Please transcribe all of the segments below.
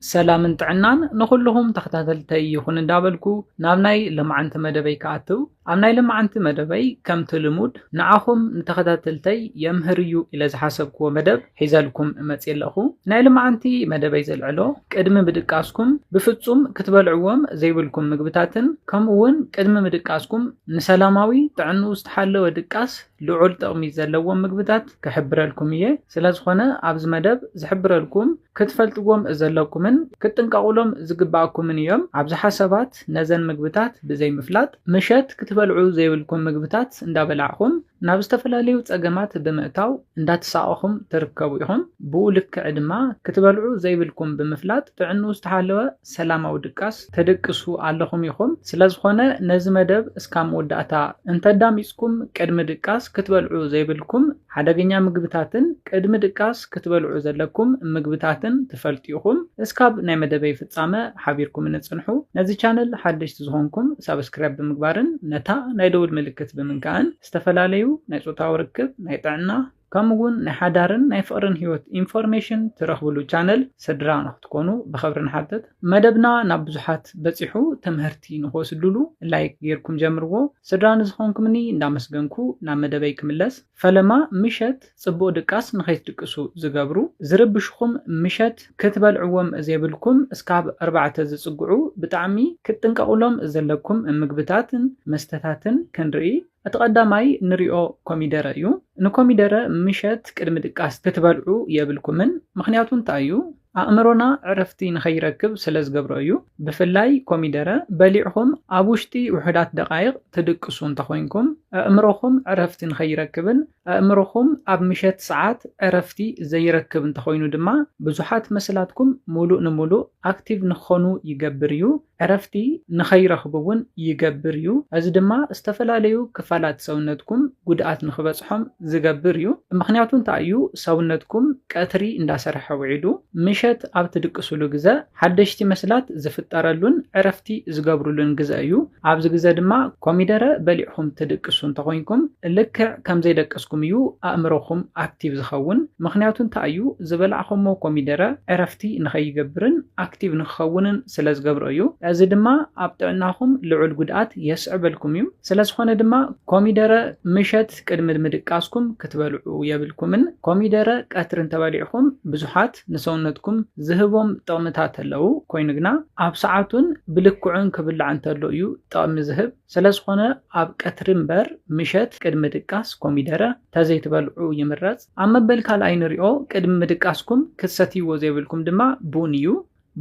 ሰላምን ጥዕናን ንኹልኹም ተኸታተልተይ ይኹን እንዳበልኩ ናብ ናይ ለማዓንቲ መደበይ ክኣትው ኣብ ናይ ለማዓንቲ መደበይ ከምቲ ልሙድ ንዓኹም ንተኸታተልተይ የምህር እዩ ኢለ ዝሓሰብክዎ መደብ ሒዘልኩም እመፅእ ኣለኹ ናይ ለማዓንቲ መደበይ ዘልዕሎ ቅድሚ ምድቃስኩም ብፍፁም ክትበልዕዎም ዘይብልኩም ምግብታትን ከምኡ እውን ቅድሚ ምድቃስኩም ንሰላማዊ ጥዕንኡ ዝተሓለወ ድቃስ ልዑል ጥቕሚ ዘለዎም ምግብታት ክሕብረልኩም እየ ስለዝኾነ ኣብዚ መደብ ዝሕብረልኩም ክትፈልጥዎም ዘለኩምን ክትጥንቀቑሎም ዝግበኣኩምን እዮም። ኣብዝሓ ሰባት ነዘን ምግብታት ብዘይምፍላጥ ምሸት ክትበልዑ ዘይብልኩም ምግብታት እንዳበላዕኹም ናብ ዝተፈላለዩ ፀገማት ብምእታው እንዳተሳቐኹም ትርከቡ ኢኹም። ብኡ ልክዕ ድማ ክትበልዑ ዘይብልኩም ብምፍላጥ ጥዕንኡ ዝተሓለወ ሰላማዊ ድቃስ ተደቅሱ ኣለኹም ኢኹም። ስለዝኾነ ነዚ መደብ እስካብ መወዳእታ እንተዳሚጽኩም ቅድሚ ድቃስ ክትበልዑ ዘይብልኩም ሓደገኛ ምግብታትን ቅድሚ ድቃስ ክትበልዑ ዘለኩም ምግብታትን ትፈልጡ ኢኹም። እስካብ ናይ መደበይ ፍጻመ ሓቢርኩምኒ ጽንሑ። ነዚ ቻነል ሓደሽቲ ዝኾንኩም ሳብስክራይብ ብምግባርን ነታ ናይ ደውል ምልክት ብምንካእን ዝተፈላለዩ ናይ ጾታዊ ርክብ፣ ናይ ጥዕና፣ ከምኡ ውን ናይ ሓዳርን ናይ ፍቅርን ሂወት ኢንፎርሜሽን ትረኽብሉ ቻነል ስድራ ንክትኮኑ ብኸብሪ ንሓትት። መደብና ናብ ብዙሓት በጺሑ ተመህርቲ ንክወስድሉ ላይክ ጌርኩም ጀምርዎ። ስድራ ንዝኾንኩምኒ እንዳመስገንኩ ናብ መደበይ ክምለስ። ፈለማ ምሸት ጽቡቅ ድቃስ ንከይትድቅሱ ዝገብሩ ዝርብሽኹም ምሸት ክትበልዕዎም ዘይብልኩም እስካብ ኣርባዕተ ዝጽግዑ ብጣዕሚ ክትጥንቀቅሎም ዘለኩም ምግብታትን መስተታትን ክንርኢ። እቲ ቀዳማይ ንሪኦ ኮሚደረ እዩ። ንኮሚደረ ምሸት ቅድሚ ድቃስ ክትበልዑ የብልኩምን ምኽንያቱ እንታይ እዩ? ኣእምሮና ዕረፍቲ ንኸይረክብ ስለዝገብሮ እዩ። ብፍላይ ኮሚደረ በሊዕኹም ኣብ ውሽጢ ውሑዳት ደቓይቕ ትድቅሱ እንተኾይንኩም ኣእምሮኹም ዕረፍቲ ንኸይረክብን ኣእምሮኹም ኣብ ምሸት ሰዓት ዕረፍቲ ዘይረክብ እንተኾይኑ ድማ ብዙሓት መሰላትኩም ሙሉእ ንሙሉእ ኣክቲቭ ንክኾኑ ይገብር እዩ። ዕረፍቲ ንኸይረኽቡ እውን ይገብር እዩ። እዚ ድማ ዝተፈላለዩ ክፋላት ሰውነትኩም ጉድኣት ንክበፅሖም ዝገብር እዩ። ምኽንያቱ እንታይ እዩ ሰውነትኩም ቀትሪ እንዳሰርሐ ውዒሉ ምሸት ኣብ ትድቅስሉ ግዘ፣ ሓደሽቲ መስላት ዝፍጠረሉን ዕረፍቲ ዝገብሩሉን ግዘ እዩ። ኣብዚ ግዘ ድማ ኮሚደረ በሊዕኹም ትድቅሱ እንተኾይንኩም ልክዕ ከምዘይደቀስኩም እዩ ኣእምሮኹም ኣክቲቭ ዝኸውን። ምኽንያቱ እንታይ እዩ? ዝበላዕኹሞ ኮሚደረ ዕረፍቲ ንኸይገብርን ኣክቲቭ ንክኸውንን ስለዝገብሮ እዩ። እዚ ድማ ኣብ ጥዕናኹም ልዑል ጉድኣት የስዕበልኩም እዩ። ስለዝኾነ ድማ ኮሚደረ ምሸት፣ ኣትክልት ቅድሚ ምድቃስኩም ክትበልዑ የብልኩምን። ኮሚደረ ቀትሪ እንተበሊዕኹም ብዙሓት ንሰውነትኩም ዝህቦም ጥቕምታት ኣለው፣ ኮይኑ ግና ኣብ ሰዓቱን ብልክዑን ክብላዕ እንተሎ እዩ ጥቕሚ ዝህብ። ስለዝኾነ ኣብ ቀትሪ እምበር ምሸት ቅድሚ ድቃስ ኮሚደረ ተዘይትበልዑ ይምረጽ። ኣብ መበል ካልኣይ ንሪኦ፣ ቅድሚ ምድቃስኩም ክትሰትይዎ ዘይብልኩም ድማ ቡን እዩ።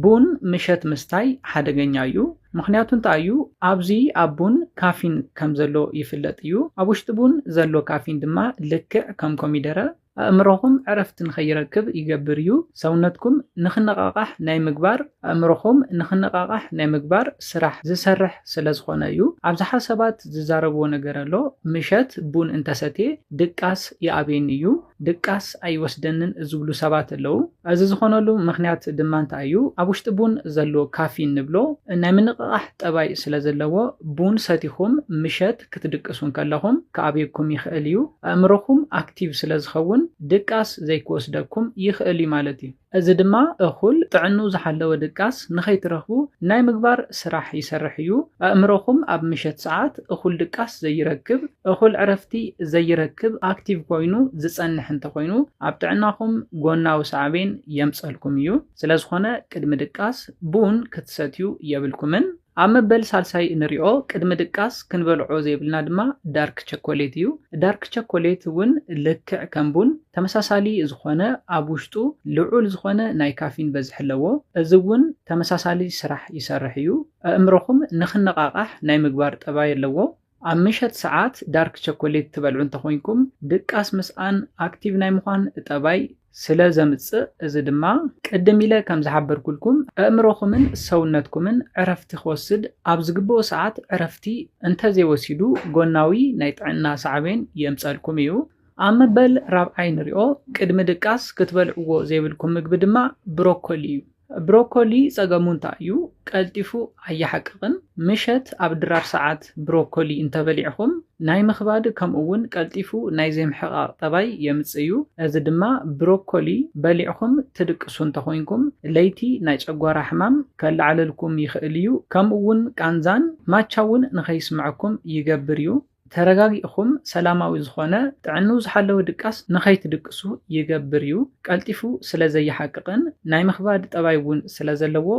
ቡን ምሸት ምስታይ ሓደገኛ እዩ፣ ምኽንያቱ እንታይ እዩ? ኣብዚ ኣብ ቡን ካፊን ከም ዘሎ ይፍለጥ እዩ፣ ኣብ ውሽጢ ቡን ዘሎ ካፊን ድማ ልክዕ ከም ኮሚደረ ኣእምሮኹም ዕረፍቲ ንኸይረክብ ይገብር እዩ፣ ሰውነትኩም ንኽነቓቓሕ ናይ ምግባር ኣእምሮኹም ንኽነቓቓሕ ናይ ምግባር ስራሕ ዝሰርሕ ስለ ዝኾነ እዩ። ኣብዝሓ ሰባት ዝዛረብዎ ነገር ኣሎ፣ ምሸት ቡን እንተሰትየ ድቃስ ይኣብየኒ እዩ። ድቃስ ኣይወስደንን ዝብሉ ሰባት ኣለዉ። እዚ ዝኾነሉ ምኽንያት ድማ እንታይ እዩ? ኣብ ውሽጢ ቡን ዘሎ ካፊን ንብሎ ናይ ምንቕቓሕ ጠባይ ስለ ዘለዎ፣ ቡን ሰቲኹም ምሸት ክትድቅሱ እንከለኹም ክኣብየኩም ይኽእል እዩ። ኣእምሮኹም ኣክቲቭ ስለ ዝኸውን ድቃስ ዘይክወስደኩም ይኽእል'ዩ ማለት እዩ። እዚ ድማ እኹል ጥዕንኡ ዝሓለወ ድቃስ ንኸይትረኽቡ ናይ ምግባር ስራሕ ይሰርሕ እዩ። ኣእምሮኹም ኣብ ምሸት ሰዓት እኹል ድቃስ ዘይረክብ፣ እኹል ዕረፍቲ ዘይረክብ፣ ኣክቲቭ ኮይኑ ዝጸንሕ እንተኾይኑ ኣብ ጥዕናኹም ጎናዊ ሳዕቤን የምጸልኩም እዩ። ስለዝኾነ ቅድሚ ድቃስ ቡን ክትሰትዩ የብልኩምን። ኣብ መበል ሳልሳይ እንሪኦ ቅድሚ ድቃስ ክንበልዖ ዘይብልና ድማ ዳርክ ቸኮሌት እዩ። ዳርክ ቸኮሌት እውን ልክዕ ከም ቡን ተመሳሳሊ ዝኾነ ኣብ ውሽጡ ልዑል ዝኾነ ናይ ካፊን በዝሒ ኣለዎ። እዚ እውን ተመሳሳሊ ስራሕ ይሰርሕ እዩ። ኣእምሮኹም ንክነቓቓሕ ናይ ምግባር ጠባይ ኣለዎ። ኣብ ምሸት ሰዓት ዳርክ ቸኮሌት ትበልዑ እንተኾይንኩም ድቃስ ምስኣን ኣክቲቭ ናይ ምዃን ጠባይ ስለ ዘምጽእ እዚ ድማ ቅድም ኢለ ከም ዝሓበርኩልኩም ኣእምሮኹምን ሰውነትኩምን ዕረፍቲ ክወስድ ኣብ ዝግብኦ ሰዓት ዕረፍቲ እንተዘይወሲዱ ጎናዊ ናይ ጥዕና ሳዕቤን የምጸልኩም እዩ። ኣብ መበል ራብዓይ ንሪኦ ቅድሚ ድቃስ ክትበልዕዎ ዘይብልኩም ምግቢ ድማ ብሮኮሊ እዩ። ብሮኮሊ ጸገሙ እንታይ እዩ? ቀልጢፉ ኣይሓቅቕን። ምሸት ኣብ ድራር ሰዓት ብሮኮሊ እንተበሊዕኹም ናይ ምኽባድ ከምኡ'ውን ቀልጢፉ ናይ ዘይምሕቓቕ ጠባይ የምጽእ እዩ። እዚ ድማ ብሮኮሊ በሊዕኹም ትድቅሱ እንተኾይንኩም ለይቲ ናይ ጨጓራ ሕማም ከለዓዕለልኩም ይኽእል እዩ። ከምኡ'ውን ቃንዛን ማቻ'ውን ንኸይስምዐኩም ይገብር እዩ። ተረጋጊእኹም ሰላማዊ ዝኾነ ጥዕንኡ ዝሓለወ ድቃስ ንኸይትድቅሱ ይገብር እዩ። ቀልጢፉ ስለ ዘይሓቅቕን ናይ ምኽባድ ጠባይ እውን ስለ ዘለዎ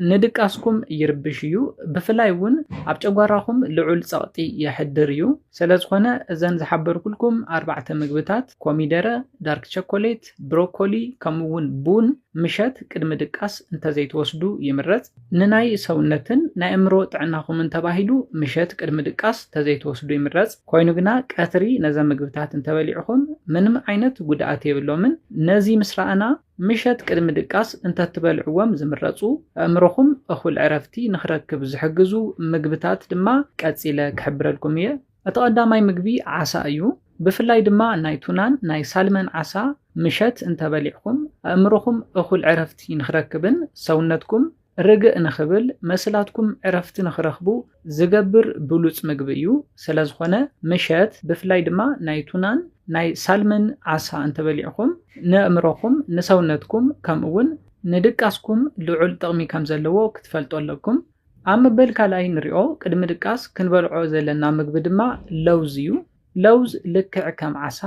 ንድቃስኩም ይርብሽ እዩ። ብፍላይ እውን ኣብ ጨጓራኹም ልዑል ጸቕጢ የሕድር እዩ። ስለ ዝኾነ እዘን ዝሓበርኩልኩም ኣርባዕተ ምግብታት፣ ኮሚደረ፣ ዳርክ ቸኮሌት፣ ብሮኮሊ ከምኡ እውን ቡን ምሸት ቅድሚ ድቃስ እንተዘይትወስዱ ይምረጽ። ንናይ ሰውነትን ናይ ኣእምሮ ጥዕናኹምን ተባሂሉ ምሸት ቅድሚ ድቃስ ተዘይትወስዱ ይምረጽ። ኮይኑ ግና ቀትሪ ነዘም ምግብታት እንተበሊዕኹም ምንም ዓይነት ጉድኣት የብሎምን። ነዚ ምስ ረኣና ምሸት ቅድሚ ድቃስ እንተትበልዕዎም ዝምረጹ ኣእምሮኹም እኹል ዕረፍቲ ንኽረክብ ዝሕግዙ ምግብታት ድማ ቀጺለ ክሕብረልኩም እየ። እቲ ቀዳማይ ምግቢ ዓሳ እዩ፣ ብፍላይ ድማ ናይ ቱናን ናይ ሳልመን ዓሳ ምሸት እንተበሊዕኩም ኣእምሮኹም እኹል ዕረፍቲ ንኽረክብን ሰውነትኩም ርግእ ንኽብል መስላትኩም ዕረፍቲ ንኽረኽቡ ዝገብር ብሉጽ ምግቢ እዩ። ስለዝኾነ ምሸት ብፍላይ ድማ ናይ ቱናን ናይ ሳልመን ዓሳ እንተበሊዕኹም ንእእምሮኹም ንሰውነትኩም ከምኡውን ንድቃስኩም ልዑል ጥቕሚ ከም ዘለዎ ክትፈልጡ ኣለኩም። ኣብ መበል ካልኣይ ንሪኦ ቅድሚ ድቃስ ክንበልዖ ዘለና ምግቢ ድማ ለውዝ እዩ። ለውዝ ልክዕ ከም ዓሳ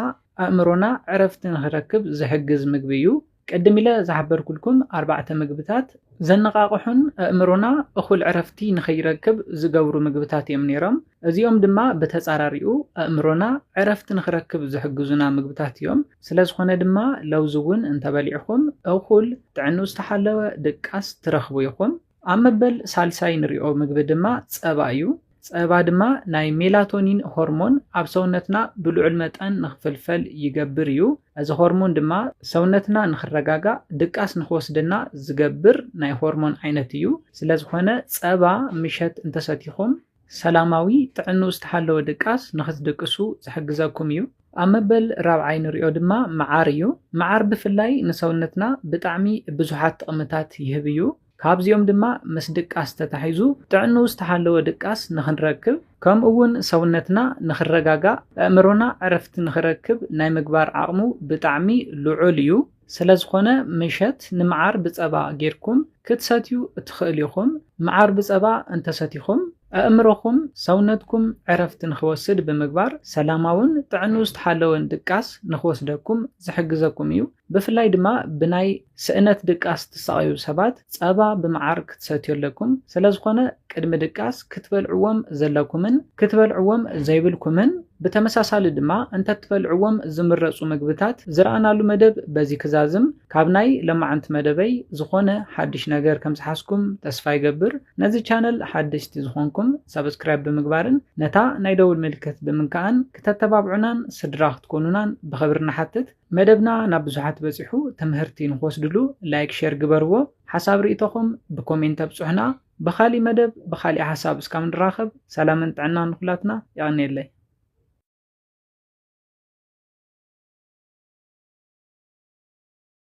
ኣእምሮና ዕረፍቲ ንክረክብ ዝሕግዝ ምግቢ እዩ። ቅድም ኢለ ዝሓበርኩልኩም ኣርባዕተ ምግብታት ዘነቓቕሑን ኣእምሮና እኹል ዕረፍቲ ንከይረክብ ዝገብሩ ምግብታት እዮም ነይሮም። እዚኦም ድማ ብተፃራሪኡ ኣእምሮና ዕረፍቲ ንክረክብ ዝሕግዙና ምግብታት እዮም። ስለዝኾነ ድማ ለውዝ እውን እንተበሊዕኹም እኹል ጥዕንኡ ዝተሓለወ ድቃስ ትረኽቡ ኢኹም። ኣብ መበል ሳልሳይ ንሪኦ ምግቢ ድማ ፀባ እዩ። ፀባ ድማ ናይ ሜላቶኒን ሆርሞን ኣብ ሰውነትና ብልዑል መጠን ንክፍልፈል ይገብር እዩ። እዚ ሆርሞን ድማ ሰውነትና ንክረጋጋእ ድቃስ ንክወስደና ዝገብር ናይ ሆርሞን ዓይነት እዩ። ስለዝኾነ ፀባ ምሸት እንተሰቲኹም ሰላማዊ ጥዕንኡ ዝተሓለወ ድቃስ ንኽትድቅሱ ዝሕግዘኩም እዩ። ኣብ መበል ራብዓይ ንሪኦ ድማ መዓር እዩ። መዓር ብፍላይ ንሰውነትና ብጣዕሚ ብዙሓት ጥቕምታት ይህብ እዩ። ካብዚኦም ድማ ምስ ድቃስ ተታሒዙ ጥዕንኡ ዝተሓለወ ድቃስ ንኽንረክብ ከምኡ እውን ሰውነትና ንኽረጋጋእ ኣእምሮና ዕረፍቲ ንኽረክብ ናይ ምግባር ዓቕሙ ብጣዕሚ ልዑል እዩ። ስለዝኾነ ምሸት ንመዓር ብጸባ ጌርኩም ክትሰትዩ እትኽእሉ ኢኹም። መዓር ብጸባ እንተሰቲኹም፣ ኣእምሮኹም፣ ሰውነትኩም ዕረፍቲ ንኽወስድ ብምግባር ሰላማውን ጥዕንኡ ዝተሓለወን ድቃስ ንኽወስደኩም ዝሕግዘኩም እዩ። ብፍላይ ድማ ብናይ ስእነት ድቃስ እትሳቐዩ ሰባት፣ ጸባ ብመዓር ክትሰትዮ ኣለኩም፣ ስለዝኾነ ቅድሚ ድቃስ ክትበልዕዎም ዘለኩምን ክትበልዕዎም ዘይብልኩምን ብተመሳሳሊ ድማ እንተትበልዕዎም ዝምረጹ ምግብታት ዝረኣናሉ መደብ በዚ ክዛዝም፣ ካብ ናይ ለማዓንቲ መደበይ ዝኾነ ሓድሽ ነገር ከምዝሓዝኩም ተስፋ ይገብር፣ ነዚ ቻነል ሓደሽቲ ዝኾንኩም ሳብስክራይብ ብምግባርን ነታ ናይ ደውል ምልክት ብምንካእን ክተተባብዑናን ስድራ ክትኮኑናን ብኽብሪ ንሓትት። መደብና ናብ ብዙሓት በጺሑ ትምህርቲ ንክወስድሉ ላይክ ሸር ግበርዎ ሓሳብ ሪኢቶኹም ብኮሜንት ኣብጹሑና ብኻሊእ መደብ ብኻሊእ ሓሳብ እስካብ ንራኸብ ሰላምን ጥዕናን ንኹላትና የቐንየለይ።